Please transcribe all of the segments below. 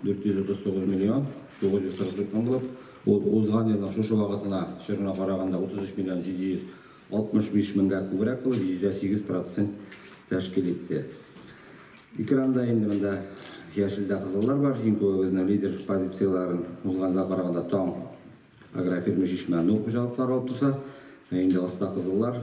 439 миллион 943 томлык. Ул узган елның шушы вакытына чорына караганда 33 миллион 765 меңгә күбрәк булып, йөздә сигез процент тәшкил итте. Экранда инде монда яшелдә кызыллар бар. Иң күбе безнең лидер позицияләрен узганга караганда Таң агрофирма Чишмә Нур хуҗалыклары алып торса, ә инде аста кызыллар,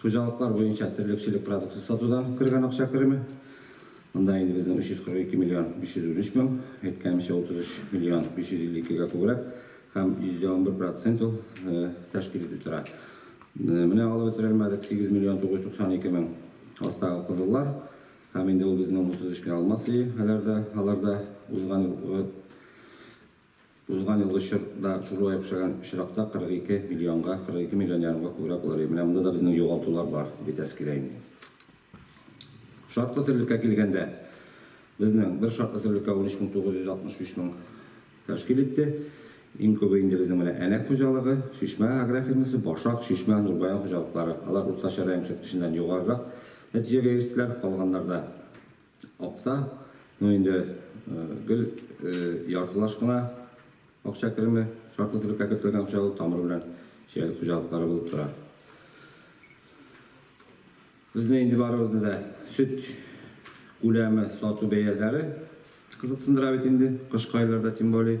Хуҗалыклар буенча терлекчелек продукция сатудан кергән акча кереме, монда инде безнең 342 миллион 513 мең, әйткәнемчә, 33 миллион 552 гә күбрәк һәм йөздә унбер процент ул тәшкил итеп тора. Менә алып бетерелмәдек, 8 миллион 992 мең астагы кызыллар һәм инде ул безнең 33 кенә алма сыйы, алар да узган елгы Узган елгы чор да шулай охшаган очракта 42 миллионга, 42 миллион ярымга күбрәк булыр иде. Менә монда да безнең югалтулар бар, бетәсе килә инде. Шартлы терлеккә килгәндә, безнең бер шартлы терлеккә 13965 мең тәшкил итте. Иң күбе инде безнең менә Әнәк хуҗалыгы, Чишмә агрофирмасы, Башак, Чишмә, Нурбаян хуҗалыклары. Алар уртача район күрсәткеченнән югарырак нәтиҗәгә ирештеләр, калганнарда Акча, ну инде гел яртылаш кына акча кереме, шартлы төрлеккә кертелгән акча ул тамыры белән чәй хуҗалыклары булып тора. Безне инде барыбызны да сөт күләме, сату бәяләре кызыксындыра бит инде, кышкы айларда тем более.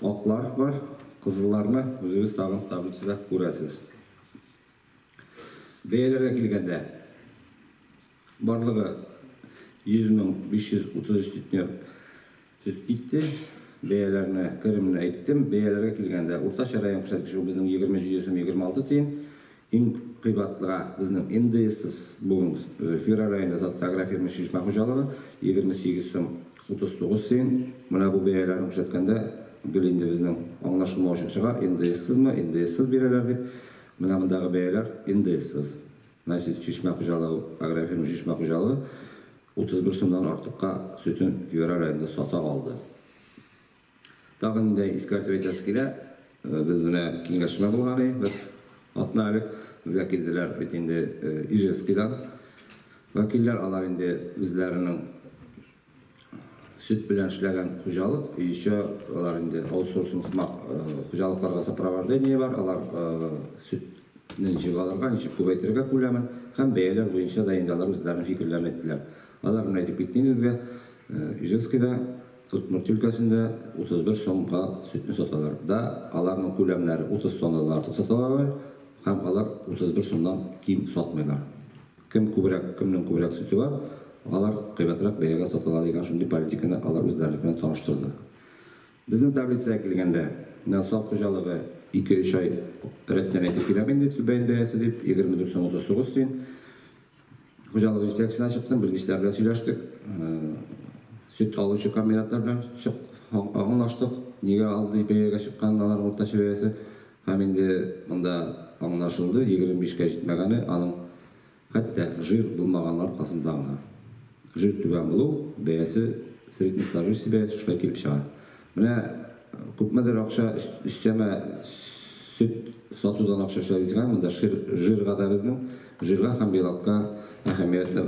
Аклар бар, кызылларны үзегез тагын таблицада күрәсез. Бәяләргә килгәндә, барлыгы 100,533 центнер сөт китте. Бәяләрне, керемне әйттем. Бәяләргә килгәндә, уртача район күрсәткече, ул безнең 20 җиде сум 26 тиен. Иң кыйбатлыга безнең НДСсыз буын Фира районы Затлы агрофирма Чишмә хуҗалыгы, 28 сум 39 тиен. Менә бу бәяләрне күрсәткәндә гел инде безнең аңлашылмау өчен чыга, НДСсызмы, НДСсыз бирәләр дип. Менә мондагы бәяләр НДСсыз. Значит, Чишмә хуҗалыгы, агрофирма Чишмә хуҗалыгы 31 сумнан артыкка сөтен Фира районында сата алды. Тагын инде искәртеп әйтәсе килә, без менә киңәшмә булган иде, бер атна элек безгә килделәр бит инде Ижевскидан вәкилләр, алар инде үзләренең сөт белән эшләгән хуҗалык, еще алар инде аутсорсинг сымак хуҗалыкларга сопровождение бар, алар сөтне ничек алырга, ничек күбәйтергә күләмен һәм бәяләр буенча да инде алар үзләренең фикерләрен әйттеләр. Алар менә әйтеп китте инде безгә, Ижевскида Удмурт өлкәсендә 31 сумга сөтне саталар да, аларның күләмнәре 30 тоннадан артык саталалар һәм алар 31 сумнан ким сатмыйлар. Кем күбрәк, кемнең күбрәк сөте бар, алар кыйбатрак бәягә сатыла дигән шундый политиканы алар үзләренеке белән таныштырды. Безнең таблицага килгәндә, менә саф хуҗалыгы ике-өч ай рәттән әйтеп киләм инде, түбәен бәясе дип, 24 сум 39 тиен. Хуҗалык җитәкчесенә чыктым, белгечләр белән сөйләштек. Сөт алучы комбинатлар белән чык, аңлаштык. Нигә алдый бәягә чыкканын аларның уртача бәясе. Һәм инде монда аңлашылды, 25 кә җитмәгәне аның хәтта жир булмаганның аркасында гына. Жир түбән булу, бәясе, среднестажующий бәясе шулай килеп чыга. Менә күпмедер акча өстәмә сөт сатудан акча эшләбезгә, монда шир, жирга да безнең, жирга һәм белокка әһәмиятне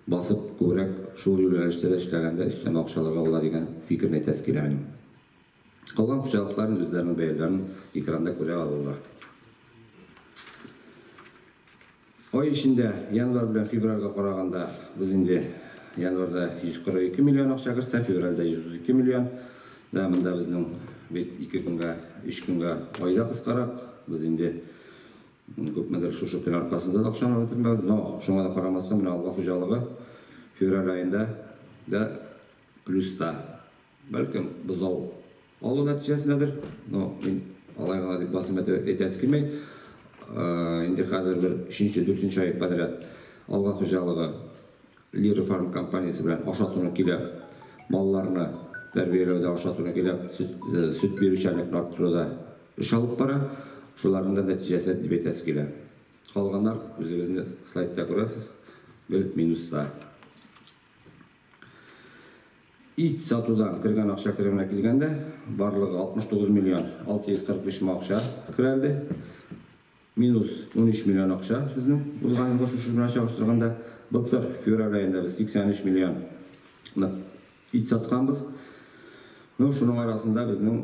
басып күбрәк шул юнәлештә дә эшләгәндә өстәмә акча алырга була дигән фикерне әйтәсе килә минем. Калган хуҗалыклар үзләренең бәяләрен экранда күрә алалар. Ай эчендә, январь белән февральгә караганда, без инде январьда 142 миллион акча кертсә, февральдә 132 миллион. Да, монда безнең бит ике көнгә, өч көнгә айда кыскарак. Без инде күпмедер шушы көн аркасында да акчаны бетермәбез. Но шуңа да карамастан, менә Алга хуҗалыгы февраль аенда да плюста. Бәлкем, бозау алу нәтиҗәсендәдер, но мин алай гына дип басым итә- әйтәсе килми. Э, Инде хәзер бер өченче, дүртенче ай подряд Алга хуҗалыгы Лира фарм компаниясе белән ашатуны килә. Малларны тәрбияләүдә ашатуны килә, сөт, э, сөт бирүчәнлекне арттыруда эш алып бара. Шуларның да нәтиҗәсе дип әйтәсе килә. Калганнар үзегезне слайдта күрәсез, гел минуста. Ит сатудан кергән акча кеременә килгәндә, барлыгы 69 миллион 643 мең акча керәлде. Минус 13 миллион акча безнең узган елгы шушы белән чагыштырганда. Былтыр февраль аенда без 83 миллион ит сатканбыз. Ну, шуның арасында безнең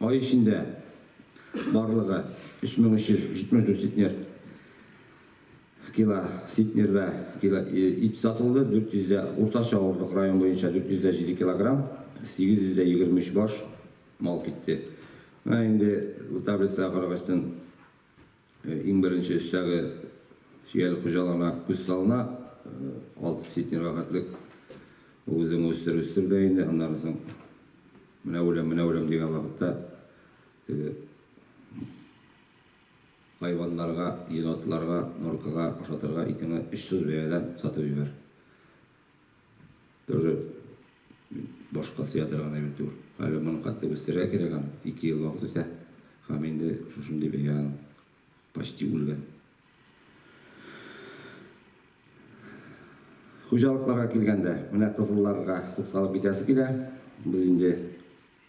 Ай эчендә барлыгы 3374 центнер кило центнерда кило ит сатылды, 400 дә уртача авырлык район буенча 407 килограмм, 823 баш мал китте. Менә инде бу таблицага карагачтын, Иң беренче өстәге сөяллек хуҗалыгына күз салына. Алты ситне рәхәтлек үзең үстер, үстер дә инде. Аннан соң менә үләм, менә үләм дигән вакытта теге хайваннарга, енотларга, норкага ашатырга итеңне очсыз бәядән сатып җибәр. Тоже башка сыя торган әйбер түгел. Әле моны катты үстерергә кирәк аны. Ике ел вакыт үтә. Һәм инде шушындый бәя аның. Почти үлгән. Хуҗалыкларга килгәндә, менә кызылларга тукталып китәсе килә. Без инде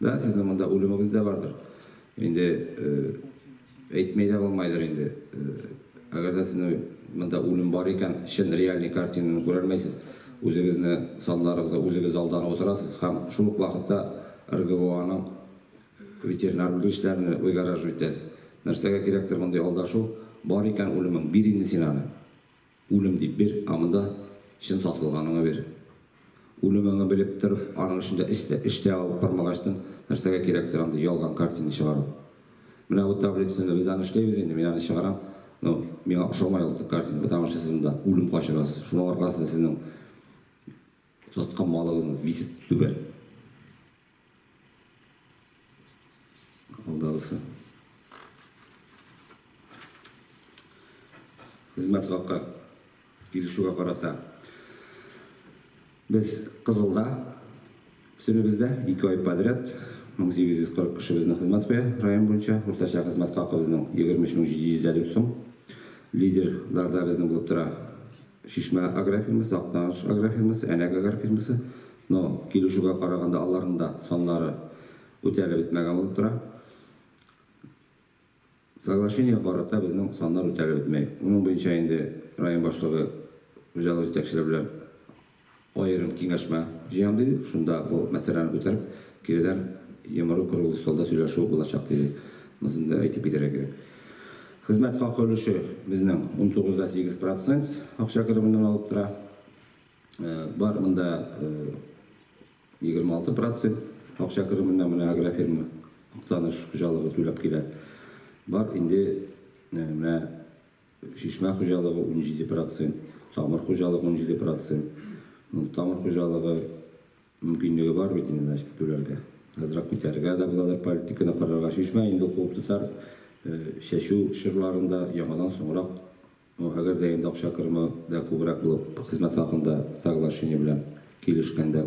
Да, сезнең монда үлемегез дә бардыр. Инде әйтми дә булмайдыр инде. Әгәр дә сезнең монда үлем бар икән, чын реальный картинаны күрәлмәйсез. Үзегезне саннарыгызда үзегез алданып утырасыз һәм шул ук вакытта РГВОның ветеринар белгечләренә выгораживать итәсез. Нәрсәгә кирәктер мондый алдашу? Бар икән үлемең, бир инде син аны. Үлем дип бир, ә монда чын сатылганыңа бир. Үлемеңне белеп торып, аның өчен дә эш эш тә алып бармагачтын, нәрсәгә кирәктер андый ялган картина чыгару? Менә бу таблицаны без аны эшләйбез инде, мин аны чыгарам, но миңа ошамай ул картина, потому что сез монда үлем качырасыз, шуның аркасында сезнең Саткан малыгызның весе түбән. Алдагысы. Хезмәт хакы килешүгә карата без кызылда бөтенебездә, ике ай подряд 1840 кеше безне хезмәт куя район буенча. Уртача хезмәт хакыбызның 23750 сум. Лидерларда безнең булып тора. Чишмә агрофирмасы, Актаныш агрофирмасы, Әнәк агрофирмасы, но, килешүгә караганда, аларның да саннары үтәлеп бетмәгән булып тора. Соглашениегә карата безнең саннар үтәлеп бетми. Моның буенча инде район башлыгы, хуҗалык җитәкчеләре белән Аерым киңәшмә җыям, диде. Шунда бу мәсьәләне күтәреп, киредән йомры круглый столда сөйләшү булачак, диде. Монысын да әйтеп китәргә кирәк. Хезмәт хакы өлеше безнең унтугыз дә сигез процент акча кеременнән алып тора. Бар монда егерме алты процент акча кеременнән менә агрофирма Актаныш хуҗалыгы түләп килә. Бар инде менә Чишмә хуҗалыгы, унҗиде процент, Тамыр хуҗалыгы, унҗиде процент. Ну, Тамыр хуҗалыгы мөмкинлеге бар бит инде, значит, түләргә. Азрак күтәрергә дә буладыр, политиканы карарга. Чишмә инде ул куып тотар, чәчү чорларын да яңадан соңрак, ну, әгәр дә инде акча кереме дә күбрәк булып, хезмәт хакында соглашение белән килешкәндә.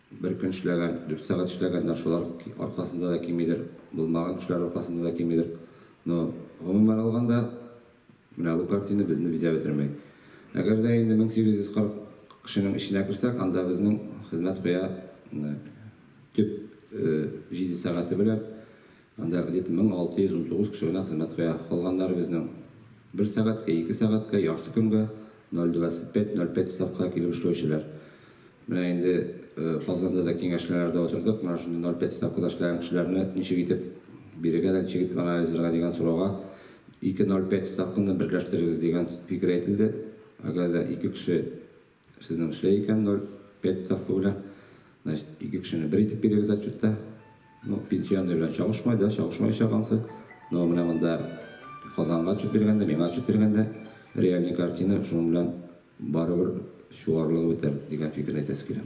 Бер көн эшләгән, дүрт сәгать эшләгәннәр, шулар аркасында да кимидер, булмаган кешеләр аркасында да кимидер. Но, гомумән алганда, менә бу картина безне бизәп бетермәй. Әгәр дә инде 1840 кешенең эченә керсәк, анда безнең хезмәт куя төп җиде сәгате белән Анда где-то 1619 кеше генә хезмәт куя. Калганнары безнең. Бер сәгатькә, ике сәгатькә, яхшы көнгә 0,25-0,5 ставкага килеп эшләүчеләр. Менә инде Казанда да киңәшмәләрдә утырдык, менә шундый 0,5 ставкада эшләгән кешеләрне ничек итеп бирегә дә, ничек итеп анализларга дигән сорауга, ике 0,5 ставканы берләштерегез дигән фикер әйтелде. Әгәр дә ике кеше Сезнең шулай икән, 0,5 ставка белән, значит, ике кешене бер итеп бирегез отчетта. Ну, пенсионный белән чагышмый, да, чагышмаячак ансы. Но менә монда Казанга отчет биргәндә, миңа отчет биргәндә, реальный картина шуның белән барыбер чуарлыгы бетәр дигән фикерне әйтәсе килә.